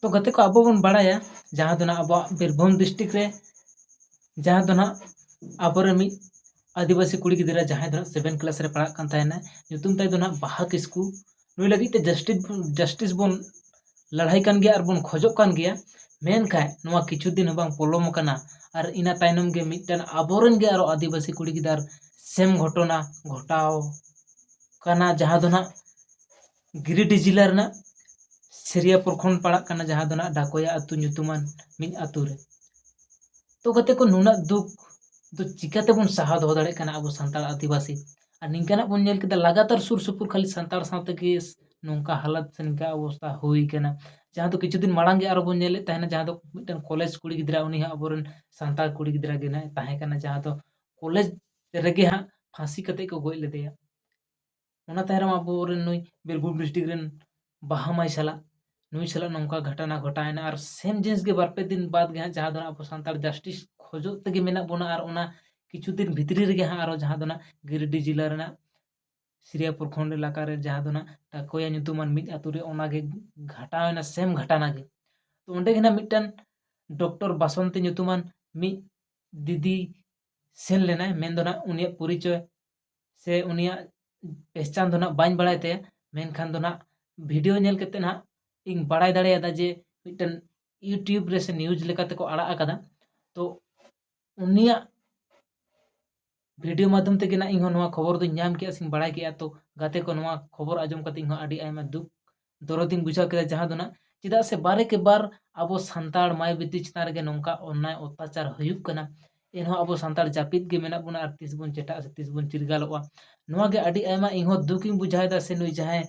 ᱛᱚ ᱜᱟᱛᱮ ᱠᱚ ᱟᱵᱚ ᱵᱚᱱ ᱵᱟᱲᱟᱭᱟ ᱡᱟᱦᱟᱸ ᱫᱚ ᱱᱟᱦᱟᱜ ᱟᱵᱚᱣᱟᱜ ᱵᱤᱨᱵᱷᱩᱢ ᱰᱤᱥᱴᱤᱠ ᱨᱮ ᱡᱟᱦᱟᱸ ᱫᱚ ᱱᱟᱦᱟᱜ ᱟᱵᱚᱨᱮᱱ ᱢᱤᱫ ᱟᱹᱫᱤᱵᱟᱹᱥᱤ ᱠᱩᱲᱤ ᱜᱤᱫᱽᱨᱟᱹ ᱡᱟᱦᱟᱸᱭ ᱫᱚ ᱦᱟᱸᱜ ᱥᱮᱵᱷᱮᱱ ᱠᱞᱟᱥ ᱨᱮ ᱯᱟᱲᱦᱟᱜ ᱠᱟᱱ ᱛᱟᱦᱮᱱᱟ ᱧᱩᱛᱩᱢ ᱛᱟᱭ ᱫᱚ ᱱᱟᱦᱟᱜ ᱵᱟᱦᱟ ᱠᱤᱥᱠᱩ ᱱᱩᱭ ᱞᱟᱹᱜᱤᱫ ᱛᱮ ᱡᱟᱹᱥᱴᱤ ᱡᱟᱥᱴᱤᱥ ᱵᱚᱱ ᱞᱟᱹᱲᱦᱟᱹᱭ ᱠᱟᱱ ᱜᱮᱭᱟ ᱟᱨᱵᱚᱱ ᱠᱷᱚᱡᱚᱜ ᱠᱟᱱ ᱜᱮᱭᱟ ᱢᱮᱱᱠᱷᱟᱡ ᱱᱚᱣᱟ ᱠᱤᱪᱷᱩ ᱫᱤᱱ ᱦᱚᱸ ᱵᱟᱝ ᱯᱚᱞᱚᱢ ᱟᱠᱟᱱᱟ ᱟᱨ ᱤᱱᱟᱹ ᱛᱟᱭᱱᱚᱢ ᱜᱮ ᱢᱤᱫᱴᱮᱱ ᱟᱵᱚᱨᱮᱱ ᱜᱮ ᱟᱨᱚ ᱟᱹᱫᱤᱵᱟᱹᱥᱤ ᱠᱩᱲᱤ ᱜᱤᱫᱟᱹᱨ ᱥᱮᱢ ᱜᱷᱚᱴᱚᱱᱟ ᱜᱷᱚᱴᱟᱣ ᱠᱟᱱᱟ ᱡᱟᱦᱟᱸ ᱫᱚ ᱱᱟᱦᱟᱜ ᱜᱤᱨᱤᱰᱤ ᱡᱮᱞᱟ ᱨᱮᱱᱟᱜ ᱥᱮᱨᱤᱭᱟ ᱯᱨᱚᱠᱷᱚᱸᱰ ᱯᱟᱲᱟᱜ ᱠᱟᱱᱟ ᱡᱟᱦᱟᱸ ᱫᱚ ᱱᱟᱜ ᱰᱟᱠᱳᱭᱟ ᱟᱹᱛᱩ ᱧᱩᱛᱩᱢᱟᱱ ᱢᱤᱫ ᱟᱹᱛᱩ ᱨᱮ ᱛᱚ ᱜᱟᱛᱮ ᱠᱚ ᱱᱩᱱᱟᱹᱜ ᱫᱩᱠ ᱫᱚ ᱪᱤᱠᱟᱹ ᱛᱮᱵᱚᱱ ᱥᱟᱦᱟᱣ ᱫᱚᱦᱚ ᱫᱟᱲᱮᱭᱟᱜ ᱠᱟᱱᱟ ᱟᱵᱚ ᱥᱟᱱᱛᱟᱲ ᱟᱹᱫᱤᱵᱟᱹᱥᱤ ᱟᱨ ᱱᱤᱝᱠᱟᱱᱟᱜ ᱵᱚᱱ ᱧᱮᱞ ᱠᱮᱫᱟ ᱞᱟᱜᱟᱛᱟᱨ ᱥᱩᱨ ᱥᱩᱯᱩᱨ ᱠᱷᱟᱹᱞᱤ ᱥᱟᱱᱛᱟᱲ ᱥᱟᱶ ᱛᱮᱜᱮ ᱱᱚᱝᱠᱟ ᱦᱟᱞᱚᱛ ᱥᱮ ᱱᱤᱝᱠᱟ ᱚᱵᱚᱥᱛᱷᱟ ᱦᱩᱭ ᱠᱟᱱᱟ ᱡᱟᱦᱟᱸ ᱫᱚ ᱠᱤᱪᱷᱩ ᱫᱤᱱ ᱢᱟᱲᱟᱝ ᱜᱮ ᱟᱨᱚ ᱵᱚᱱ ᱧᱮᱞᱮᱫ ᱛᱟᱦᱮᱱᱟ ᱡᱟᱦᱟᱸ ᱫᱚ ᱢᱤᱫᱴᱮᱱ ᱠᱚᱞᱮᱡᱽ ᱠᱩᱲᱤ ᱜᱤᱫᱽᱨᱟᱹ ᱩᱱᱤ ᱦᱚᱸ ᱟᱵᱚ ᱨᱮᱱ ᱥᱟᱱᱛᱟᱲ ᱠᱩᱲᱤ ᱜᱤᱫᱽᱨᱟᱹ ᱜᱮ ᱱᱟᱜ ᱛᱟᱦᱮᱸ ᱠᱟᱱᱟᱭ ᱡᱟᱦᱟᱸ ᱫᱚ ᱠᱚᱞᱮᱡᱽ ᱨᱮᱜᱮ ᱦᱟᱸᱜ ᱯᱷᱟᱹᱥᱤ ᱠᱟᱛᱮᱫ ᱠᱚ ᱜᱚᱡ ᱞᱮᱫᱮᱭᱟ ᱚᱱᱟ ᱛᱟᱭᱚᱢ ᱨᱮ ᱟᱵᱚ ᱨᱮᱱ ᱱᱩᱭ ᱵᱤᱨᱵᱷᱩᱢ ᱰᱤᱥᱴᱤᱠ ᱨᱮᱱ ᱵᱟᱦᱟ ᱢᱟᱹᱭ ᱥᱟᱞᱟᱜ ᱱᱩᱭ ᱥᱟᱞᱟᱜ ᱱᱚᱝᱠᱟ ᱜᱷᱚᱴᱚᱱᱟ ᱜᱷᱚᱴᱟᱣᱮᱱᱟ ᱟᱨ ᱥᱮᱢ ᱡᱤᱱᱤᱥ ᱜᱮ ᱵᱟᱨ ᱯᱮ ᱫᱤᱱ ᱵᱟᱫᱽ ᱜᱮ ᱦᱟᱸᱜ ᱡᱟᱦᱟᱸ ᱫᱚ ᱟᱵᱚ ᱥᱟᱱᱛᱟᱲ ᱡᱟᱥᱴᱤᱥ ᱠᱷᱚᱡᱚᱜ ᱛᱮᱜᱮ ᱢᱮᱱᱟᱜ ᱵᱚᱱᱟ ᱟᱨ ᱚᱱᱟ ᱠᱤᱪᱷᱩ ᱫᱤᱱ ᱵᱷᱤᱛᱨᱤ ᱨᱮᱜᱮ ᱦᱟᱸᱜ ᱟᱨᱚ ᱡᱟᱦᱟᱸ ᱫᱚ ᱦᱟᱸᱜ ᱜᱤᱨᱤᱰᱤ ᱡᱮᱞᱟ ᱨᱮᱱᱟᱜ ᱥᱤᱨᱤᱭᱟ ᱯᱨᱚᱠᱷᱚᱸᱰ ᱮᱞᱟᱠᱟ ᱨᱮ ᱡᱟᱦᱟᱸ ᱫᱚ ᱦᱟᱸᱜ ᱴᱟᱠᱳᱭᱟ ᱧᱩᱛᱩᱢᱟᱱ ᱢᱤᱫ ᱟᱹᱛᱩ ᱨᱮ ᱚᱱᱟᱜᱮ ᱜᱷᱚᱴᱟᱣᱮᱱᱟ ᱥᱮᱢ ᱜᱷᱚᱴᱚᱱᱟ ᱜᱮ ᱛᱚ ᱚᱸᱰᱮ ᱜᱮ ᱦᱟᱸᱜ ᱢᱤᱫᱴᱟᱝ ᱰᱚᱠᱴᱚᱨ ᱵᱟᱥᱚᱱᱛᱤ ᱧᱩᱛᱩᱢᱟᱱ ᱢᱤᱫ ᱫᱤᱫᱤ ᱥᱮᱱ ᱞᱮᱱᱟᱭ ᱢᱮᱱᱫᱚ ᱦᱟᱸᱜ ᱩᱱᱤᱭᱟᱜ ᱯᱚᱨᱤᱪᱚᱭ ᱥᱮ ᱩᱱᱤᱭᱟᱜ ᱯᱮᱦᱪᱟᱱ ᱫᱚ ᱱᱟᱜ ᱵᱟᱹᱧ ᱵᱟᱲᱟᱭ ᱛᱟᱭᱟ ᱢᱮᱱᱠᱷᱟᱱ ᱫᱚ ᱱᱟᱜ ᱵᱷᱤᱰᱭᱳ ᱧᱮᱞ ᱠᱟᱛᱮᱫ ᱱᱟᱜ ᱤᱧ ᱵᱟᱲᱟᱭ ᱫᱟᱲᱮᱭᱟᱫᱟ ᱡᱮ ᱢᱤᱫᱴᱮᱱ ᱤᱭᱩᱴᱩᱵᱽ ᱨᱮ ᱥᱮ ᱱᱤᱭᱩᱡᱽ ᱞᱮᱠᱟ ᱛᱮᱠᱚ ᱟᱲᱟᱜ ᱟᱠᱟᱫᱟ ᱛᱚ ᱩᱱᱤᱭᱟᱜ ᱵᱷᱤᱰᱭᱳ ᱢᱟᱫᱽᱫᱷᱚᱢ ᱛᱮᱜᱮ ᱱᱟᱜ ᱤᱧ ᱦᱚᱸ ᱱᱚᱣᱟ ᱠᱷᱚᱵᱚᱨ ᱫᱚᱧ ᱧᱟᱢ ᱠᱮᱜᱼᱟ ᱥᱮᱧ ᱵᱟᱲᱟᱭ ᱠᱮᱜᱼᱟ ᱛᱚ ᱜᱟᱛᱮ ᱠᱚ ᱱᱚᱣᱟ ᱠᱷᱚᱵᱚᱨ ᱟᱸᱡᱚᱢ ᱠᱟᱛᱮᱫ ᱤᱧ ᱦᱚᱸ ᱟᱹᱰᱤ ᱟᱭᱢᱟ ᱫᱩᱠ ᱫᱚᱨᱚᱫᱤᱧ ᱵᱩᱡᱷᱟᱹᱣ ᱠᱮᱫᱟ ᱡᱟᱦᱟᱸ ᱫᱚ ᱱᱟᱜ ᱪᱮᱫᱟᱜ ᱥᱮ ᱵᱟᱨᱮ ᱠᱮ ᱵᱟᱨ ᱟᱵᱚ ᱥᱟᱱᱛᱟᱲ ᱢᱟᱹᱭ ᱵᱤᱴᱤ ᱪᱮᱛᱟᱱ ᱨᱮᱜᱮ ᱱᱚᱝᱠᱟ ᱚᱱᱱᱟᱭ ᱚᱛᱛᱟᱪᱟᱨ ᱦᱩᱭᱩᱜ ᱠᱟᱱᱟ ᱮᱱᱦᱚᱸ ᱟᱵᱚ ᱥᱟᱱᱛᱟᱲ ᱡᱟᱹᱯᱤᱫ ᱜᱮ ᱢᱮᱱᱟᱜ ᱵᱚᱱᱟ ᱟᱨ ᱛᱤᱥ ᱵᱚᱱ ᱪᱮᱴᱟᱜᱼᱟ ᱥᱮ ᱛᱤᱥ ᱵᱚᱱ ᱪᱤᱨᱜᱟᱞᱚᱜᱼᱟ ᱱᱚᱣᱟ ᱜᱮ ᱟᱹᱰᱤ ᱟᱭᱢᱟ ᱤᱧᱦᱚᱸ ᱫᱩᱠᱤᱧ ᱵᱩᱡᱷᱟᱹᱣᱮᱫᱟ ᱥᱮ ᱱᱩᱭ ᱡᱟᱦᱟᱸᱭ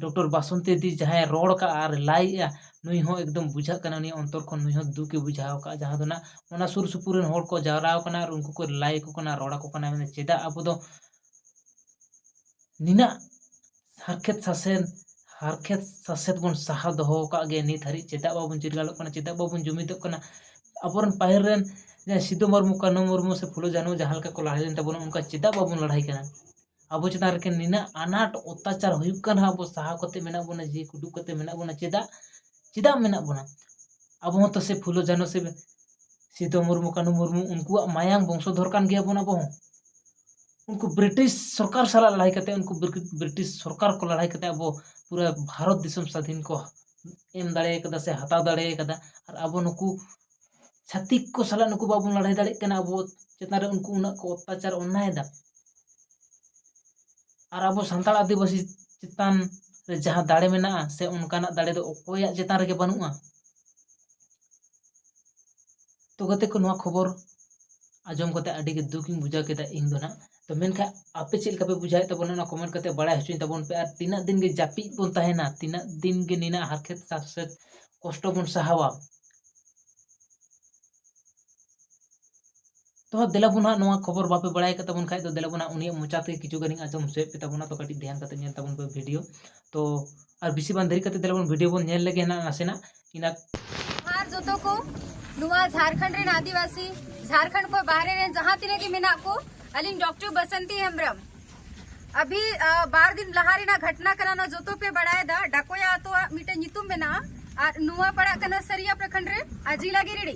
ᱰᱚᱠᱴᱚᱨ ᱵᱟᱥᱚᱱᱛᱤ ᱫᱤ ᱡᱟᱦᱟᱸᱭ ᱨᱚᱲ ᱠᱟᱜᱼᱟ ᱟᱨ ᱞᱟᱹᱭᱮᱜᱼᱟ ᱱᱩᱭ ᱦᱚᱸ ᱮᱠᱫᱚᱢ ᱵᱩᱡᱷᱟᱹᱜ ᱠᱟᱱᱟ ᱩᱱᱤᱭᱟᱜ ᱚᱱᱛᱚᱨ ᱠᱷᱚᱱ ᱱᱩᱭ ᱦᱚᱸ ᱫᱩᱠᱮ ᱵᱩᱡᱷᱟᱹᱣ ᱠᱟᱜᱼᱟ ᱡᱟᱦᱟᱸ ᱫᱚ ᱱᱟᱜ ᱚᱱᱟ ᱥᱩᱨ ᱥᱩᱯᱩᱨ ᱨᱮᱱ ᱦᱚᱲ ᱠᱚ ᱡᱟᱣᱨᱟ ᱟᱠᱟᱱᱟ ᱟᱨ ᱩᱱᱠᱩ ᱠᱚ ᱞᱟᱹᱭ ᱟᱠᱚ ᱠᱟᱱᱟ ᱨᱚᱲ ᱟᱠᱚ ᱠᱟᱱᱟ ᱢᱮᱱᱫᱟ ᱪᱮᱫᱟᱜ ᱟᱵᱚ ᱫᱚ ᱱᱤᱱᱟᱹᱜ ᱦᱟᱨᱠᱮᱛ ᱥᱟᱥᱮᱱ ᱦᱟᱨᱠᱮᱛ ᱥᱟᱥᱮᱛ ᱵᱚᱱ ᱥᱟᱦᱟ ᱫᱚᱦᱚ ᱟᱠᱟᱫ ᱜᱮᱭᱟ ᱱᱤᱛ ᱦᱟᱹᱨᱤᱡ ᱪᱮᱫᱟᱜ ᱵᱟᱵᱚᱱ ᱪᱤᱨᱜᱟᱹᱞᱚᱜ ᱠᱟᱱᱟ ᱪᱮᱫᱟᱜ ᱵᱟᱵᱚᱱ ᱡᱩᱢᱤᱫᱚᱜ ᱠᱟᱱᱟ ᱟᱵᱚ ᱨᱮᱱ ᱯᱟᱹᱦᱤᱞ ᱨᱮᱱ ᱡᱟᱦᱟᱸᱭ ᱥᱤᱫᱩ ᱢᱩᱨᱢᱩ ᱠᱟᱹᱱᱦᱩ ᱢᱩᱨᱢᱩ ᱥᱮ ᱯᱷᱩᱞᱳ ᱡᱷᱟᱱᱳ ᱡᱟᱦᱟᱸ ᱞᱮᱠᱟ ᱠᱚ ᱞᱟᱹᱲᱦᱟᱹᱭ ᱞᱮᱱ ᱛᱟᱵᱚᱱᱟ ᱚᱱᱠᱟ ᱪᱮᱫᱟᱜ ᱵᱟᱵᱚᱱ ᱞᱟᱹᱲᱦᱟᱹᱭ ᱠᱟᱱᱟ ᱟᱵᱚ ᱪᱮᱛᱟᱱ ᱨᱮ ᱱᱤᱱᱟᱹᱜ ᱟᱱᱟᱴ ᱚᱛᱛᱟᱪᱟᱨ ᱦᱩᱭᱩᱜ ᱠᱟᱱ ᱨᱮᱦᱚᱸ ᱟᱵᱚ ᱥᱟᱦᱟᱣ ᱠᱟᱛᱮᱫ ᱢᱮᱱᱟᱜ ᱵᱚᱱᱟ ᱡᱤᱣᱤ ᱠᱚ ᱩᱰᱩᱠ ᱠᱟᱛᱮᱫ ᱢᱮᱱᱟᱜ ᱵᱚᱱᱟ ᱪᱮᱫᱟᱜ ᱪᱮᱫᱟᱜ ᱢᱮᱱᱟᱜ ᱵᱚᱱᱟ ᱟᱵᱚ ᱦᱚᱸᱛᱚ ᱥᱮᱭ ᱯᱷᱩᱞᱳ ᱡᱷᱟᱱᱳ ᱥᱮ ᱥᱤᱫᱩ ᱢᱩᱨᱢᱩ ᱠᱟᱹᱱᱦᱩ ᱢᱩᱨᱢᱩ ᱩᱱᱠᱩᱣᱟᱜ ᱢᱟᱭᱟᱝ ᱵᱚᱝᱥᱚᱫᱷᱚᱨ ᱠᱟᱱ ᱜᱮᱭᱟᱵᱚᱱ ᱟᱵᱚ ᱦᱚᱸ ᱩᱱᱠᱩ ᱵᱨᱤᱴᱤᱥ ᱥᱚᱨᱠᱟᱨ ᱥᱟᱞᱟᱜ ᱞᱟᱹᱲᱦᱟᱹᱭ ᱠᱟᱛᱮᱫ ᱩᱱᱠᱩ ᱵᱨᱤᱴᱤᱥ ᱥᱚᱨᱠᱟᱨ ᱠᱚ ᱞᱟᱹᱲᱦᱟᱹᱭ ᱠᱟᱛᱮᱫ ᱟᱵᱚ ᱯᱩᱨᱟᱹ ᱵᱷᱟᱨᱚᱛ ᱫᱤᱥᱚᱢ ᱥᱟᱹᱫᱷᱤᱱ ᱠᱚ ᱮᱢ ᱫᱟᱲᱮ ᱠᱟᱫᱟ ᱥᱮ ᱦᱟᱛᱟᱣ ᱫᱟᱲᱮ ᱠᱟᱫᱟ ᱟᱨ ᱟᱵᱚ ᱱᱩᱠᱩ ᱪᱷᱟᱹᱛᱤᱠ ᱠᱚ ᱥᱟᱞᱟᱜ ᱱᱩᱠᱩ ᱵᱟᱵᱚᱱ ᱞᱟᱹᱲᱦᱟᱹᱭ ᱫᱟᱲᱮᱜ ᱠᱟᱱᱟ ᱟᱵᱚ ᱪᱮᱛᱟᱱ ᱨᱮ ᱩᱱᱠᱩ ᱩᱱᱟᱹᱜ ᱠᱚ ᱚᱛᱛᱟᱪᱟᱨ ᱚᱱᱱᱟᱭᱮᱫᱟ ᱟᱨ ᱟᱵᱚ ᱥᱟᱱᱛᱟᱲ ᱟᱹᱫᱤᱵᱟᱹᱥᱤ ᱪᱮᱛᱟᱱ ᱨᱮ ᱡᱟᱦᱟᱸ ᱫᱟᱲᱮ ᱢᱮᱱᱟᱜᱼᱟ ᱥᱮ ᱚᱱᱠᱟᱱᱟᱜ ᱫᱟᱲᱮ ᱫᱚ ᱚᱠᱚᱭᱟᱜ ᱪᱮᱛᱟᱱ ᱨᱮᱜᱮ ᱵᱟᱹᱱᱩᱜᱼᱟ ᱛᱚ ᱜᱟᱛᱮ ᱠᱚ ᱱᱚᱣᱟ ᱠᱷᱚᱵᱚᱨ ᱟᱸᱡᱚᱢ ᱠᱟᱛᱮ ᱟᱹᱰᱤ ᱜᱮ ᱫᱩᱠ ᱤᱧ ᱵᱩᱡᱷᱟᱹᱣ ᱠᱮᱫᱟ ᱤᱧ ᱫᱚ ᱱᱟᱜ ᱛᱚ ᱢᱮᱱᱠᱷᱟᱱ ᱟᱯᱮ ᱪᱮᱫ ᱞᱮᱠᱟ ᱯᱮ ᱵᱩᱡᱷᱟᱹᱣᱮᱫ ᱛᱟᱵᱚᱱᱟ ᱚᱱᱟ ᱠᱚᱢᱮᱱᱴ ᱠᱟᱛᱮ ᱵᱟᱲᱟᱭ ᱦᱚᱪᱚᱧ ᱛᱟᱵᱚᱱ ᱯᱮ ᱟᱨ ᱛᱤᱱᱟᱹᱜ ᱫᱤᱱ ᱜᱮ ᱡᱟᱹᱯᱤᱫ ᱵᱚᱱ ᱛᱟᱦᱮᱱᱟ ᱛᱤᱱᱟᱹᱜ ᱫᱤᱱ ᱜᱮ ᱱᱤᱱᱟᱹᱜ ᱦᱟᱨᱠᱮᱛ ᱥᱟᱥᱮᱛ ᱠᱚᱥᱴᱚ ᱵᱚᱱ ᱥᱟᱦᱟᱣᱟ ᱛᱚ ᱫᱮᱞᱟ ᱵᱚᱱ ᱦᱟᱸᱜ ᱱᱚᱣᱟ ᱠᱷᱚᱵᱚᱨ ᱵᱟᱯᱮ ᱵᱟᱲᱟᱭ ᱠᱟᱫ ᱛᱟᱵᱚᱱ ᱠᱷᱟᱡ ᱫᱚ ᱫᱮᱞᱟ ᱵᱚᱱ ᱦᱟᱸᱜ ᱩᱱᱤᱭᱟᱜ ᱢᱚᱪᱟ ᱛᱮ ᱠᱤᱪᱷᱩ ᱜᱟᱱᱤᱧ ᱟᱸᱡᱚᱢ ᱦᱚᱪᱚᱭᱮᱫ ᱯᱮ ᱛᱟᱵᱚᱱᱟ ᱛᱚ ᱠᱟᱹᱴᱤᱡ ᱫᱷᱮᱭᱟᱱ ᱠᱟᱛᱮ ᱧᱮᱞ ᱛᱟᱵᱚᱱ ᱯᱮ ᱵᱷᱤᱰᱤᱭᱳ ᱛᱚ ᱟᱨ ᱵᱮᱥᱤ ᱵᱟᱝ ᱫᱮᱨᱤ ᱠᱟᱛᱮ ᱫᱮᱞᱟ ᱵᱚᱱ ᱵᱷᱤᱰᱤᱭᱳ ᱵᱚᱱ ᱧᱮᱞ ᱞᱮᱜᱮ ᱱᱟᱜ ᱱᱟᱥᱮᱱᱟᱜ ᱤᱱᱟ ᱟᱨ ᱡᱚᱛᱚ ᱠᱚ ᱱᱚᱣᱟ ᱡᱷᱟᱨᱠᱷᱚᱸᱰ ᱨᱮᱱ ᱟᱹᱫᱤᱵᱟᱹᱥᱤ ᱡᱷᱟᱨᱠᱷᱚᱸᱰ ᱠᱷᱚᱱ ᱵᱟᱦᱨᱮ ᱨᱮᱱ ᱡᱟᱦᱟᱸ ᱛᱤᱱᱟᱹᱜ ᱜᱮ ᱢᱮᱱᱟᱜ ᱠᱚ ᱟᱹᱞᱤᱧ ᱰᱚᱠᱴᱚᱨ ᱵᱟᱥᱚᱱᱛᱤ ᱦᱮᱢᱵᱨᱚᱢ ᱟᱵᱷᱤ ᱵᱟᱨ ᱫᱤᱱ ᱞᱟᱦᱟ ᱨᱮᱱᱟᱜ ᱜᱷᱚᱴᱱᱟ ᱠᱟᱱᱟ ᱱᱚᱣᱟ ᱡᱚᱛᱚ ᱯᱮ ᱵᱟᱲᱟᱭᱮᱫᱟ ᱰᱟᱠᱚᱭᱟ ᱟᱛᱳᱣᱟᱜ ᱢᱤᱫᱴᱮᱱ ᱧᱩᱛᱩᱢ ᱢᱮᱱᱟᱜᱼᱟ ᱟᱨ ᱱᱚᱣᱟ ᱯᱟᱲᱟᱜ ᱠᱟᱱᱟ ᱥᱟᱹᱨᱤᱭᱟ ᱯᱨᱚᱠᱷᱚᱸᱰ ᱨᱮ ᱟᱨ ᱡᱤᱞᱟ ᱜᱤᱨᱤᱰᱤ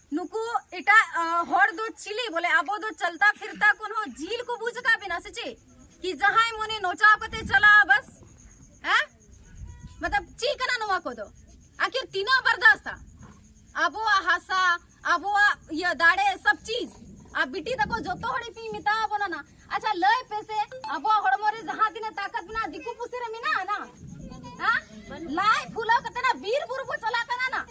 ᱱᱩᱠᱩ ᱮᱴᱟᱜ ᱦᱚᱲ ᱫᱚ ᱪᱤᱞᱤ ᱵᱚᱞᱮ ᱟᱵᱚ ᱫᱚ ᱪᱟᱞᱛᱟ ᱯᱷᱤᱨᱛᱟ ᱠᱚᱱ ᱦᱚᱸ ᱡᱤᱞ ᱠᱚ ᱵᱩᱡ ᱟᱠᱟᱫ ᱵᱮᱱᱟ ᱥᱮ ᱪᱮᱫ ᱠᱤ ᱡᱟᱦᱟᱸᱭ ᱢᱚᱱᱮ ᱱᱚᱪᱟᱣ ᱠᱟᱛᱮ ᱪᱟᱞᱟᱜᱼᱟ ᱵᱟᱥ ᱦᱮᱸ ᱢᱚᱛᱞᱚᱵ ᱪᱮᱫ ᱠᱟᱱᱟ ᱱᱚᱣᱟ ᱠᱚᱫᱚ ᱟᱠᱷᱤᱨ ᱛᱤᱱᱟᱹᱜ ᱵᱟᱨᱫᱟᱥᱛᱟ ᱟᱵᱚᱣᱟᱜ ᱦᱟᱥᱟ ᱟᱵᱚᱣᱟᱜ ᱤᱭᱟᱹ ᱫᱟᱲᱮ ᱥᱚᱵ ᱪᱤᱡ ᱟᱨ ᱵᱤᱴᱤ ᱛᱟᱠᱚ ᱡᱚᱛᱚ ᱦᱚᱲ ᱤᱯᱤᱧ ᱢᱮᱛᱟᱣ ᱵᱚᱱᱟ ᱱᱟ ᱟᱪᱪᱷᱟ ᱞᱟᱹᱭ ᱯᱮ ᱥᱮ ᱟᱵᱚᱣᱟᱜ ᱦᱚᱲᱢᱚ ᱨᱮ ᱡᱟᱦᱟᱸ ᱛᱤᱱᱟᱹᱜ ᱛᱟᱠᱚᱛ ᱢᱮᱱᱟᱜᱼᱟ ᱫᱤᱠᱩ ᱯᱩᱥᱤ ᱨᱮ ᱢᱮᱱᱟᱜᱼᱟ ᱱᱟ ᱦᱮᱸ ᱞᱟᱡ ᱯᱷᱩᱞᱟᱹᱣ ᱠᱟᱛᱮ ᱱᱟ ᱵᱤᱨ ᱵᱩᱨᱩ ᱵᱚ ᱪᱟᱞᱟᱜ ᱠᱟᱱᱟ ᱱᱟ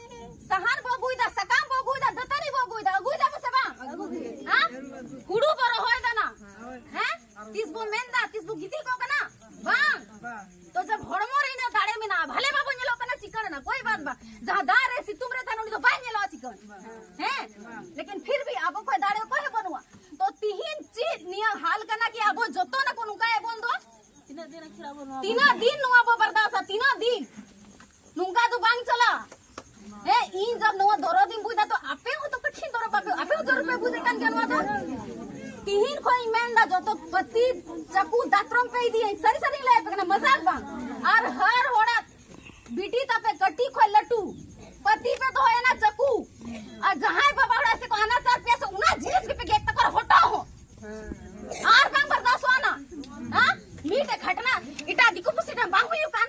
ᱥᱟᱦᱟᱱ ᱵᱚ ᱟᱹᱜᱩᱭᱮᱫᱟ ᱥᱟᱠᱟᱢ ᱵᱚ ᱟᱹᱜᱩᱭᱮᱫᱟ ᱫᱟᱹᱛᱟᱹᱱᱤ ᱵᱚ ᱟᱹᱜᱩᱭᱮᱫᱟ ᱟᱹᱜᱩᱭᱮᱫᱟ ᱵᱚ ᱥᱮ ᱵᱟᱝ ᱦᱮᱸ ᱦᱩᱲᱩ ᱵᱚ ᱨᱚᱦᱚᱭᱮᱫᱟ ᱱᱟ ᱦᱮᱸ ᱛᱤᱥ ᱵᱚ ᱢᱮᱱᱫᱟ ᱛᱤᱥ ᱵᱚ ᱜᱤᱛᱤᱞ ᱠᱚᱜ ᱠᱟᱱᱟ ᱵᱟᱝ ᱛᱚ ᱥᱟᱵ ᱦᱚᱲᱢᱚ ᱨᱮ ᱤᱱᱟᱹ ᱫᱟᱲᱮ ᱢᱮᱱᱟᱜᱼᱟ ᱵᱷᱟᱞᱮ ᱵᱟᱵᱚ ᱧᱮᱞᱚᱜ ᱠᱟᱱᱟ ᱪᱤᱠᱟᱹᱲ ᱮᱱᱟ ᱠᱚᱭ ᱵᱟᱫ ᱵᱟ ᱡᱟᱦᱟᱸ ᱫᱟᱜ ᱨᱮ ᱥᱤᱛᱩᱝ ᱨᱮ ᱛᱟᱦᱮᱱ ᱩᱱᱤ ᱫᱚ ᱵᱟᱭ ᱧᱮᱞᱚᱜᱼᱟ ᱪᱤᱠᱟᱹᱲ ᱦᱮᱸ ᱞᱮᱠᱤᱱ ᱯᱷᱤᱨ ᱵᱷᱤ ᱟᱵᱚ ᱠᱷᱚᱡ ᱫᱟᱲᱮ ᱚᱠᱚᱭ ᱦᱚᱸ ᱵᱟᱹᱱᱩᱜᱼᱟ ᱛᱚ ᱛᱤᱦᱤᱧ ᱪᱮᱫ ᱱᱤᱭᱟᱹ ᱦᱟᱞ ᱠᱟᱱᱟ ᱠᱤ ᱟᱵᱚ ᱡᱚᱛᱚ ᱱᱟᱠᱚ ᱱᱚᱝᱠᱟ ᱮᱵᱚᱱ ᱫᱚ ᱛᱤᱱᱟᱹᱜ ᱫᱤᱱ ᱱᱚᱣᱟ ᱵᱚ ᱵᱟᱨᱫᱟᱥᱟ ᱛᱤᱱᱟᱹᱜ ᱫᱤᱱ ᱱᱚᱝᱠᱟ ᱫᱚ ᱵᱟᱝ ᱪᱟᱞᱟᱜ ᱦᱮᱸ ᱤᱧ ᱡᱟᱵ ᱱᱚᱣᱟ ᱫᱚᱨᱚᱫ ᱤᱧ ᱵᱩᱡᱫᱟ ᱛᱚ ᱟᱯᱮ ᱦᱚᱸ ᱛᱚ ᱠᱟᱹᱴᱷᱤᱱ ᱫᱚᱨᱚᱫ ᱟᱯᱮ ᱟᱯᱮ ᱦᱚᱸ ᱫᱚᱨᱚᱫ ᱯᱮ ᱵᱩᱡ ᱠᱟᱱ ᱜᱮᱭᱟ ᱱᱚᱣᱟ ᱫᱚ ᱛᱤᱦᱤᱧ ᱠᱷᱚᱱ ᱤᱧ ᱢᱮᱱᱫᱟ ᱡᱚᱛᱚ ᱯᱟᱹᱛᱤ ᱪᱟᱠᱩ ᱫᱟᱛᱨᱚᱢ ᱯᱮ ᱤᱫᱤᱭᱟᱹᱧ ᱥᱟᱹᱨᱤ ᱥᱟᱹᱨᱤᱧ ᱞᱟᱹᱭ ᱟᱯᱮ ᱠᱟᱱᱟ ᱢᱟᱡᱟᱠ ᱵᱟᱝ ᱟᱨ ᱦᱟᱨ ᱦᱚᱲᱟᱜ ᱵᱤᱴᱤ ᱛᱟᱯᱮ ᱠᱟᱹᱴᱤᱡ ᱠᱷᱚᱱ ᱞᱟᱹᱴᱩ ᱯᱟᱹᱛᱤ ᱯᱮ ᱫᱚᱦᱚᱭᱮᱱᱟ ᱪᱟᱠᱩ ᱟᱨ ᱡᱟᱦᱟᱸᱭ ᱵᱟᱵᱟ ᱦᱚᱲᱟᱜ ᱥᱮ ᱠᱚ ᱟᱱᱟᱪᱟᱨ ᱯᱮᱭᱟ ᱥᱮ ᱚᱱᱟ ᱡᱤᱱᱤᱥ ᱜᱮᱯᱮ ᱜᱮᱫ ᱛᱟᱠᱚᱣᱟ ᱦᱚᱴᱚ ᱦᱚᱸ ᱟᱨ ᱵᱟᱝ ᱵᱟᱨᱫᱟᱥᱚᱜᱼᱟ ᱱᱟ ᱦᱮᱸ ᱢᱤᱫᱴᱮᱡ ᱜᱷᱟᱴᱱᱟ ᱮᱴᱟᱜ ᱫᱤᱠᱩ ᱯᱩᱥᱤ ᱴᱷᱮᱱ ᱵᱟᱝ ᱦᱩᱭᱩᱜ ᱠᱟᱱ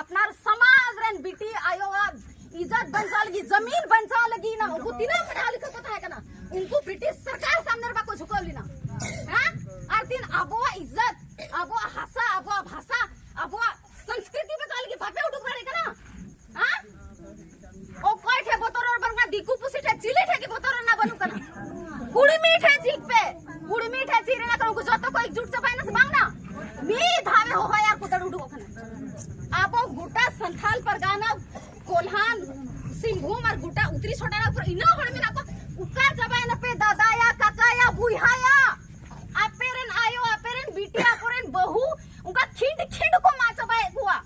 ᱟᱯᱱᱟᱨ ᱥᱚᱢᱟᱡᱽ ᱨᱮᱱ ᱵᱤᱴᱤ ᱟᱭᱳᱣᱟᱜ ᱤᱡᱚᱛ ᱵᱟᱧᱪᱟᱣ ᱞᱟᱹᱜᱤᱫ ᱡᱚᱢᱤᱱ ᱵᱟᱧᱪᱟᱣ ᱞᱟᱹᱜᱤᱫ ᱱᱟ ᱩᱱᱠᱩ ᱛᱤᱱᱟᱹᱜ ᱯᱟᱲᱦᱟᱣ ᱞᱤᱠᱷᱟᱹ ᱠᱚ ᱛᱟᱦᱮᱸ ᱠᱟᱱᱟ ᱩᱱᱠᱩ ᱵᱨᱤᱴᱤᱥ ᱥᱚᱨᱠᱟᱨ ᱥᱟᱢᱱᱮ ᱨᱮ ᱵᱟᱠᱚ ᱡᱷᱩᱠᱟᱹᱣ ᱞᱮᱱᱟ ᱦᱮᱸ ᱟᱨ ᱛᱤᱱ ᱟᱵᱚᱣᱟᱜ ᱤᱡᱚᱛ ᱟᱵᱚᱣᱟᱜ ᱦᱟᱥᱟ ᱟᱵᱚᱣᱟᱜ ᱵᱷᱟᱥᱟ ᱟᱵᱚᱣᱟᱜ ᱥᱚᱝᱥᱠᱨᱤᱛᱤ ᱵᱟᱧᱪᱟᱣ ᱞᱟᱹᱜᱤᱫ ᱵᱟᱯᱮ ᱩᱰᱩᱠ ᱫᱟᱲᱮᱭᱟᱜ ᱠᱟᱱᱟ ᱚᱠᱚᱭ ᱴᱷᱮ ᱵᱚᱛᱚᱨ ᱨᱚᱲ ᱵᱟᱹᱱᱩᱜ ᱠᱟᱱᱟ ᱫᱤᱠᱩ ᱯᱩᱥᱤ ᱴᱷᱮ ᱪᱤᱞᱤ ᱴᱷᱮ ᱜᱮ ᱵᱚᱛᱚᱨ ᱨᱮᱱᱟᱜ ᱵᱟᱹᱱᱩᱜ ᱠᱟᱱᱟ ᱠᱩᱲᱢᱤ ᱴᱷᱮ ᱪᱤᱠ ᱯᱮ ᱠᱩᱲᱢᱤ ᱴᱷᱮ ᱪᱤ ᱨᱮᱱᱟᱜ ᱠᱟᱱᱟ ᱩᱱᱠᱩ ᱡᱚᱛᱚ ᱠᱚ ᱮᱠᱡᱩᱴ ᱪᱟᱵᱟᱭᱱᱟ ᱥᱮ ᱵᱟᱝ ᱱᱟ ᱢᱤ ᱫᱷᱟᱣᱮ ᱦᱚᱦᱚᱭᱟ ᱠᱚ ᱫᱟᱹᱲ ᱩᱰᱩᱠᱚᱜ ᱠᱟᱱᱟ ᱟᱵᱚ ᱜᱚᱴᱟ ᱥᱟᱱᱛᱷᱟᱞ ᱯᱟᱨᱜᱟᱱᱟ ᱠᱚᱞᱦᱟᱱ ᱥᱤᱝᱵᱷᱩᱢ ᱟᱨ ᱜᱚᱴᱟ ᱩᱛᱨᱤ ᱥᱚᱴᱟᱨᱟ ᱯᱩᱨᱟᱹ ᱤᱱᱟᱹ ᱦᱚᱲ ᱢᱮᱱᱟᱜ ᱠᱚ ᱩᱠᱟᱨ ᱪᱟᱵᱟᱭᱱᱟ ᱯᱮ ᱫᱟᱫᱟᱭᱟ ᱠᱟᱠᱟᱭᱟ ᱵᱩᱭᱦᱟᱭᱟ ᱟᱯᱮ ᱨᱮᱱ ᱟᱭᱳ ᱟᱯᱮ ᱨᱮᱱ ᱵᱤᱴᱤ ᱟᱠᱚ ᱨᱮᱱ ᱵᱟᱹᱦᱩ ᱩᱱᱠᱟ ᱠᱷᱤᱸᱰ ᱠᱷᱤᱸᱰ ᱠᱚ ᱢᱟ ᱪᱟᱵᱟᱭᱮᱫ ᱠᱚᱣᱟ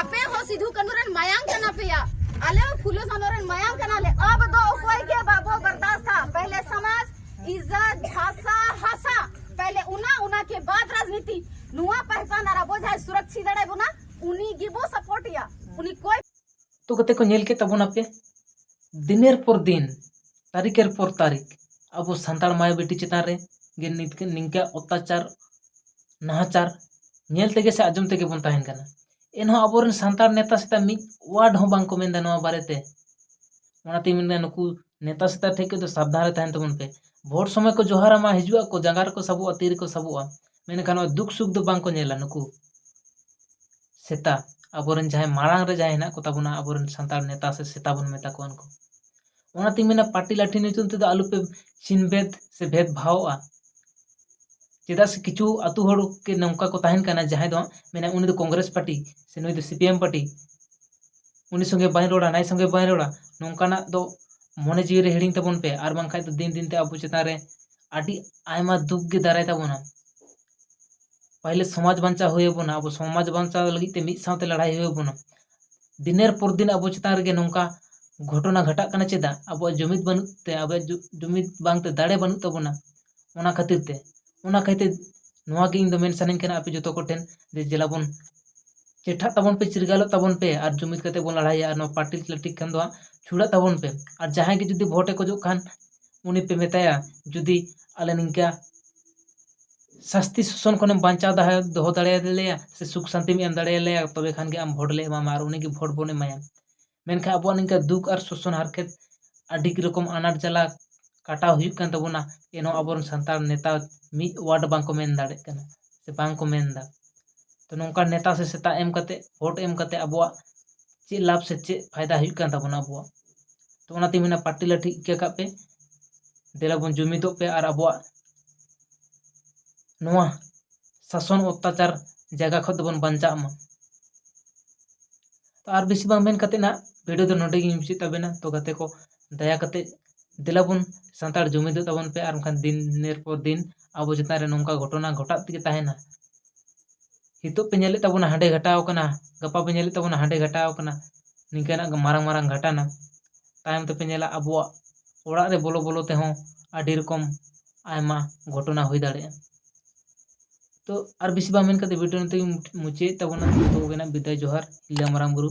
ᱟᱯᱮ ᱦᱚᱸ ᱥᱤᱫᱷᱩ ᱠᱟᱹᱱᱩ ᱨᱮᱱ ᱢᱟᱭᱟᱝ ᱠᱟᱱᱟ ᱯᱮᱭᱟ ᱟᱞᱮ ᱦᱚᱸ ᱯᱷᱩᱞᱚ ᱥᱟᱱᱚ ᱨᱮᱱ ᱢᱟᱭᱟᱝ ᱠᱟᱱᱟ ᱞᱮ ᱟᱵ ᱫᱚ ᱚᱠᱚᱭ ᱜᱮ ᱵᱟᱵᱚ ᱵᱟᱨᱫᱟᱥᱛᱟ ᱯᱮᱦᱞᱮ ᱥᱚᱢᱟᱡᱽ ᱤᱡᱡᱚᱛ ᱵᱷᱟᱥᱟ ᱦᱟᱥᱟ ᱯᱮᱦᱞᱮ ᱩᱱᱟ ᱩᱱᱟ ᱠᱮ ᱵᱟᱫ ᱨᱟᱡᱽᱱᱤᱛᱤ ᱱᱚᱣᱟ ᱯᱟᱦᱪᱟᱱ ᱟᱨ ᱟᱵᱚ ᱡᱟᱦᱟᱸᱭ ᱥᱩᱨᱚᱠᱷᱤ ᱫᱟᱲᱮ ᱵᱚᱱᱟ ᱩᱱᱤ ᱜᱮᱵᱚ ᱥᱟᱯᱳᱨᱴ ᱮᱭᱟ ᱩᱱᱤ ᱠᱚᱭ ᱛᱚ ᱠᱟᱛᱮ ᱠᱚ ᱧᱮᱞ ᱠᱮ ᱛᱟᱵᱚᱱᱟ ᱯᱮ ᱫᱤᱱᱮᱨ ᱯᱚᱨ ᱫᱤᱱ ᱛᱟᱹᱨᱤᱠᱮᱨ ᱯᱚᱨ ᱛᱟᱹᱨᱤᱠ ᱟᱵᱚ ᱥᱟᱱᱛᱟᱲ ᱢᱟᱭᱟ ᱵᱤᱴᱤ ᱪᱮᱛᱟᱱ ᱨᱮ ᱜᱮ ᱱᱤᱝᱠᱟᱹ ᱚᱛᱛᱟᱪᱟᱨ ᱱᱟᱦᱟᱪᱟᱨ ᱧᱮᱞ ᱛᱮᱜᱮ ᱥᱮ ᱟᱸᱡᱚᱢ ᱛᱮᱜᱮ ᱵᱚᱱ ᱛᱟᱦᱮᱱ ᱠᱟᱱᱟ ᱮᱱᱦᱚᱸ ᱟᱵᱚᱨᱮᱱ ᱥᱟᱱᱛᱟᱲ ᱱᱮᱛᱟ ᱥᱮᱛᱟ ᱢᱤᱫ ᱚᱣᱟᱨᱰ ᱦᱚᱸ ᱵᱟᱝᱠᱚ ᱢᱮᱱᱫᱟ ᱱᱚᱣᱟ ᱵᱟᱨᱮᱛᱮ ᱚᱱᱟᱛᱤᱧ ᱢᱮᱱᱫᱟ ᱱᱩᱠᱩ ᱱᱮᱛᱟ ᱥᱮᱛᱟ ᱴᱷᱮᱱ ᱠᱷᱚᱱ ᱫᱚ ᱥᱟᱵᱫᱷᱟᱱ ᱨᱮ ᱛᱟᱦᱮᱱ ᱛᱟᱵᱚᱱ ᱯᱮ ᱵᱷᱳᱴ ᱥᱚᱢᱚᱭ ᱠᱚ ᱡᱚᱦᱟᱨ ᱟᱢᱟ ᱦᱤᱡᱩᱜ ᱟᱠᱚ ᱡᱟᱸᱜᱟ ᱨᱮᱠᱚ ᱥᱟᱵᱚᱜᱼᱟ ᱛᱤ ᱨᱮᱠᱚ ᱥᱟᱵᱚᱜᱼᱟ ᱢᱮᱱᱠᱷᱟᱱ ᱱᱚᱣᱟ ᱫᱩᱠ ᱥᱩᱠ ᱫᱚ ᱵᱟᱝᱠᱚ ᱧᱮᱞᱟ ᱱᱩᱠᱩ ᱥᱮᱛᱟ ᱟᱵᱚᱨᱮᱱ ᱡᱟᱦᱟᱸᱭ ᱢᱟᱲᱟᱝ ᱨᱮ ᱡᱟᱦᱟᱸᱭ ᱦᱮᱱᱟᱜ ᱠᱚᱛᱟ ᱵᱚᱱᱟ ᱟᱵᱚᱨᱮᱱ ᱥᱟᱱᱛᱟᱲ ᱱᱮᱛᱟ ᱥᱮ ᱥᱮᱛᱟ ᱵᱚᱱ ᱢᱮᱛᱟ ᱠᱚᱣᱟ ᱩᱱᱠᱩ ᱚᱱᱟᱛᱤᱧ ᱢᱮᱱᱟ ᱯᱟᱴᱤ ᱞᱟᱴᱷᱤ ᱧᱩᱛᱩᱢ ᱛᱮᱫᱚ ᱟᱞᱚ ᱯᱮ ᱪᱷᱤᱱ ᱵᱷᱮᱫᱽ ᱥᱮ ᱵᱷᱮᱫᱽ ᱵᱷᱟᱣᱚᱜᱼᱟ ᱪᱮᱫᱟᱜ ᱥᱮ ᱠᱤᱪᱷᱩ ᱟᱛᱳ ᱦᱚᱲ ᱜᱮ ᱱᱚᱝᱠᱟ ᱠᱚ ᱛᱟᱦᱮᱱ ᱠᱟᱱᱟ ᱡᱟᱦᱟᱸᱭ ᱫᱚ ᱢᱮᱱᱟ ᱩᱱᱤ ᱫᱚ ᱠᱚᱝᱜᱨᱮᱥ ᱯᱟᱴᱤ ᱥᱮ ᱱᱩᱭ ᱫᱚ ᱥᱤ ᱯᱤ ᱮᱢ ᱯᱟᱴᱤ ᱩᱱᱤ ᱥᱚᱸᱜᱮ ᱵᱟᱹᱧ ᱨᱚᱲᱟ ᱱᱟᱹᱭ ᱥᱚᱸᱜᱮ ᱵᱟᱹᱧ ᱨᱚᱲᱟ ᱱᱚᱝᱠᱟᱱᱟᱜ ᱫᱚ ᱢᱚᱱᱮ ᱡᱤᱣᱤ ᱨᱮ ᱦᱤᱲᱤᱧ ᱛᱟᱵᱚᱱ ᱯᱮ ᱟᱨ ᱵᱟᱝᱠᱷᱟᱱ ᱫᱚ ᱫᱤᱱ ᱫᱤᱱ ᱛᱮ ᱟᱵᱚ ᱪᱮᱛᱟᱱ ᱨᱮ ᱟᱹᱰᱤ ᱟᱭᱢᱟ ᱫᱩᱠ ᱜᱮ ᱫᱟᱨᱟᱭ ᱛᱟᱵᱚᱱᱟ ᱯᱟᱹᱦᱤᱞ ᱥᱚᱢᱟᱡᱽ ᱵᱟᱧᱪᱟᱣ ᱦᱩᱭ ᱟᱵᱚᱱᱟ ᱟᱵᱚ ᱥᱚᱢᱟᱡᱽ ᱵᱟᱧᱪᱟᱣ ᱞᱟᱹᱜᱤᱫ ᱛᱮ ᱢᱤᱫ ᱥᱟᱶᱛᱮ ᱞᱟᱲᱟᱭ ᱦᱩᱭ ᱟᱵᱚᱱᱟ ᱫᱤᱱᱮᱨ ᱯᱚᱨ ᱫᱤᱱ ᱟᱵᱚ ᱪᱮᱛᱟᱱ ᱨᱮᱜᱮ ᱱᱚᱝᱠᱟ ᱜᱷᱚᱴᱚᱱᱟ ᱜᱷᱟᱴᱟᱜ ᱠᱟᱱᱟ ᱪᱮᱫᱟᱜ ᱟᱵᱚᱣᱟᱜ ᱡᱩᱢᱤᱫ ᱵᱟᱹᱱᱩᱜ ᱛᱮ ᱟᱵᱚᱣᱟᱜ ᱡᱩᱢᱤᱫ ᱵᱟᱝᱛᱮ ᱫᱟᱲᱮ ᱵᱟᱹᱱᱩᱜ ᱛᱟᱵᱚᱱᱟ ᱚᱱᱟ ᱠᱷᱟᱹᱛᱤᱨ ᱛᱮ ᱚᱱᱟ ᱠᱷᱟᱹᱛᱤᱨ ᱱᱚᱣᱟ ᱜᱮ ᱤᱧ ᱫᱚ ᱢᱮᱱ ᱥᱟᱱᱟᱧ ᱠᱟᱱᱟ ᱟᱯᱮ ᱡᱚᱛᱚ ᱠᱚᱴᱷᱮᱱ ᱡᱮ ᱫᱮᱞᱟ ᱵᱚᱱ ᱪᱮᱴᱷᱟᱜ ᱛᱟᱵᱚᱱ ᱯᱮ ᱪᱤᱨᱜᱟᱞᱚᱜ ᱛᱟᱵᱚᱱ ᱯᱮ ᱟᱨ ᱡᱩᱢᱤᱫ ᱠᱟᱛᱮ ᱵᱚᱱ ᱞᱟᱲᱟᱭᱟ ᱟᱨ ᱱᱚᱣᱟ ᱯᱟᱨᱴᱤ ᱯᱚᱞᱤᱴᱤᱠ ᱠᱷᱟᱱ ᱫᱚ ᱦᱟᱸᱜ ᱪᱷᱩᱲᱟᱹᱜ ᱛᱟᱵᱚᱱ ᱯᱮ ᱟᱨ ᱡᱟᱦᱟᱸᱭ ᱜᱮ ᱡᱩᱫᱤ ᱵᱷᱳᱴᱮ ᱠᱷᱚᱡᱚᱜ ᱠᱷᱟᱱ ᱩᱱᱤ ᱯᱮ ᱢᱮᱛᱟᱭᱟ ᱡᱩᱫᱤ ᱟᱞᱮ ᱱᱤᱝᱠᱟ ᱥᱟᱥᱛᱤ ᱥᱳᱥᱟᱱ ᱠᱷᱚᱱᱮᱢ ᱵᱟᱧᱪᱟᱣ ᱫᱟᱲᱮ ᱫᱚᱦᱚ ᱫᱟᱲᱮᱭᱟᱞᱮᱭᱟ ᱥᱮ ᱥᱩᱠ ᱥᱟᱱᱛᱤᱢ ᱮᱢ ᱫᱟᱲᱮᱭᱟᱞᱮᱭᱟ ᱛᱚᱵᱮ ᱠᱷᱟᱱ ᱜᱮ ᱟᱢ ᱵᱷᱳᱴ ᱞᱮ ᱮᱢᱟᱢᱟ ᱟᱨ ᱩᱱᱤᱜᱮ ᱵᱷᱳᱴ ᱵᱚᱱ ᱮᱢᱟᱭᱟ ᱢᱮᱱᱠᱷᱟᱱ ᱟᱵᱚᱣᱟᱜ ᱱᱤᱝᱠᱟᱹ ᱫᱩᱠ ᱟᱨ ᱥᱳᱥᱟᱱ ᱦᱟᱨᱠᱮᱛ ᱟᱹᱰᱤ ᱨᱚᱠᱚᱢ ᱟᱱᱟᱴ ᱡᱟᱞᱟ ᱠᱟᱴᱟᱣ ᱦᱩᱭᱩᱜ ᱠᱟᱱ ᱛᱟᱵᱚᱱᱟ ᱮᱱᱦᱚᱸ ᱟᱵᱚᱨᱮᱱ ᱥᱟᱱᱛᱟᱲ ᱱᱮᱛᱟ ᱢᱤᱫ ᱳᱣᱟᱨᱰ ᱵᱟᱝᱠᱚ ᱢᱮᱱ ᱫᱟᱲᱮᱜ ᱠᱟᱱᱟ ᱥᱮ ᱵᱟᱝᱠᱚ ᱢᱮᱱᱫᱟ ᱛᱚ ᱱᱚᱝᱠᱟᱱ ᱱᱮᱛᱟ ᱥᱮ ᱥᱮᱛᱟ ᱮᱢ ᱠᱟᱛᱮ ᱵᱷᱳᱴ ᱮᱢ ᱠᱟᱛᱮ ᱟᱵᱚᱣᱟᱜ ᱪᱮᱫ ᱞᱟᱵᱷ ᱥᱮ ᱪᱮᱫ ᱯᱷᱟᱭᱫᱟ ᱦᱩᱭᱩᱜ ᱠᱟᱱ ᱛᱟᱵᱚᱱᱟ ᱟᱵᱚᱣᱟᱜ ᱛᱚ ᱚᱱᱟᱛᱤᱧ ᱢᱮᱱᱟ ᱯᱟᱴᱤ ᱞᱟᱴᱷᱤ ᱤᱠᱟᱹ ᱠᱟᱜ ᱯᱮ ᱫᱮᱞᱟ ᱵᱚᱱ ᱡᱩᱢᱤᱫᱚᱜ ᱯᱮ ᱟᱨ ᱟᱵᱚᱣᱟᱜ ᱱᱚᱣᱟ ᱥᱟᱥᱚᱱ ᱚᱛᱛᱟᱪᱟᱨ ᱡᱟᱭᱜᱟ ᱠᱷᱚᱱ ᱫᱚᱵᱚᱱ ᱵᱟᱧᱪᱟᱜ ᱢᱟ ᱟᱨ ᱵᱮᱥᱤ ᱵᱟᱝ ᱢᱮᱱ ᱠᱟᱛᱮ ᱱᱟᱜ ᱵᱷᱤᱰᱤᱭᱳ ᱫᱚ ᱱᱚᱰᱮ ᱜᱮᱧ ᱢᱩᱪᱟᱹᱫ ᱛᱟᱵᱮᱱᱟ ᱛᱚ ᱜᱟᱛᱮ ᱠᱚ ᱫᱟᱭᱟ ᱠᱟᱛᱮ ᱫᱮᱞᱟ ᱵᱚᱱ ᱥᱟᱱᱛᱟᱲ ᱡᱩᱢᱤᱫᱚᱜ ᱛᱟᱵᱚᱱ ᱯᱮ ᱟᱨ ᱵᱟᱝᱠᱷᱟᱱ ᱫᱤᱱᱮᱨ ᱯᱚᱨ ᱫᱤᱱ ᱟᱵᱚ ᱪᱮᱛᱟᱱ ᱨᱮ ᱱᱚᱝᱠᱟ ᱜᱷᱚᱴᱚᱱᱟ ᱜᱷᱚᱴᱟᱜ ᱛᱮᱜᱮ ᱛᱟᱦᱮᱱᱟ ᱱᱤᱛᱚᱜ ᱯᱮ ᱧᱮᱞᱮᱫ ᱛᱟᱵᱚᱱᱟ ᱦᱟᱸᱰᱮ ᱜᱷᱟᱴᱟᱣ ᱠᱟᱱᱟ ᱜᱟᱯᱟ ᱯᱮ ᱧᱮᱞᱮᱫ ᱛᱟᱵᱚᱱᱟ ᱦᱟᱸᱰᱮ ᱜᱷᱟᱴᱟᱣ ᱠᱟᱱᱟ ᱱᱤᱝᱠᱟᱹᱱᱟᱜ ᱢᱟᱨᱟᱝ ᱢᱟᱨᱟᱝ ᱜᱷᱟᱴᱟᱱᱟ ᱛᱟᱭᱚᱢ ᱛᱮᱯᱮ ᱧᱮᱞᱟ ᱟᱵᱚᱣᱟᱜ ᱚᱲᱟᱜ ᱨᱮ ᱵᱚᱞᱚ ᱵᱚᱞᱚ ᱛᱮᱦᱚᱸ ᱟᱹᱰᱤ ᱨᱚᱠᱚᱢ ᱟᱭᱢᱟ ᱜᱷᱚᱴᱚᱱᱟ ᱦᱩᱭ ᱫᱟᱲᱮᱭᱟᱜᱼᱟ ᱛᱚ ᱟᱨ ᱵᱮᱥᱤ ᱵᱟᱝ ᱢᱮᱱ ᱠᱟᱛᱮ ᱵᱷᱤᱰᱤᱭᱳ ᱱᱤᱛᱚᱜ ᱤᱧ ᱢᱩᱪᱟᱹᱫ ᱛᱟᱵᱚᱱᱟ ᱡᱚᱛᱚ ᱠᱚᱜᱮᱱᱟᱜ ᱵᱤᱫᱟᱭ ᱡᱚᱦᱟᱨ ᱦᱤᱞᱟᱹ ᱢᱟᱨᱟᱝ ᱵᱩᱨᱩ